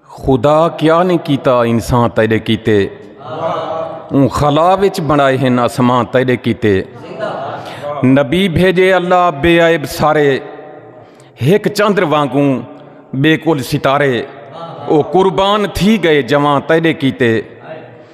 خدا کیا نی کیتا انسان تیرے کیتے اون خلا وچ بنائے ہن اسمان تیرے کیتے نبی بھیجے اللہ بے عیب سارے ہک چندر وانگوں بے کل ستارے او قربان تھی گئے جوان تیرے کیتے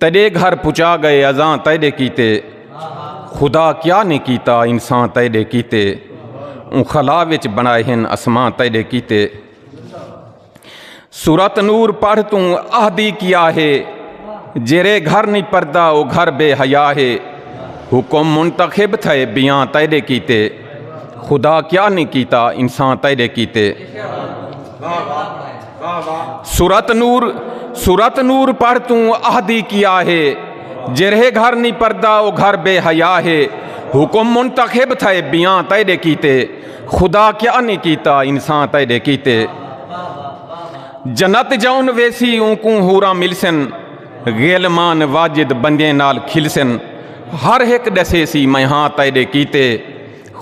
تیڈے گھر پچا گئے ازاں تیڈے کیتے خدا کیا نے کیتا انسان تیڈے کیتے اون خلا وچ بنائے ہن اسماں تیڈے کیتے سورت نور پڑھ توں آہدی کیا ہے جیرے گھر نہیں پردا او گھر بے حیا ہے حکم منتخب تھے بیاں تیڈے کیتے خدا کیا نے کیتا انسان تیڈے کیتے سورت نور سورت نور پڑھ توں اہدی کیا ہے جرہے گھر نہیں پردا او گھر بے حیا ہے حکم منتخب تھا بیاں تیڈے کیتے خدا کیا نہیں کیتا انسان تیڈے کیتے جنت جاؤن ویسی اون کو ہورا ملسن غیلمان واجد بندے نال کھلسن ہر ایک ڈسے سی میں ہاں تیڈے کیتے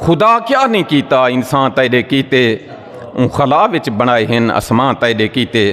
خدا کیا نہیں کیتا انسان تیڈے کیتے اوں خلا وچ بنڑائے ہن اسمان تیڈے کیتے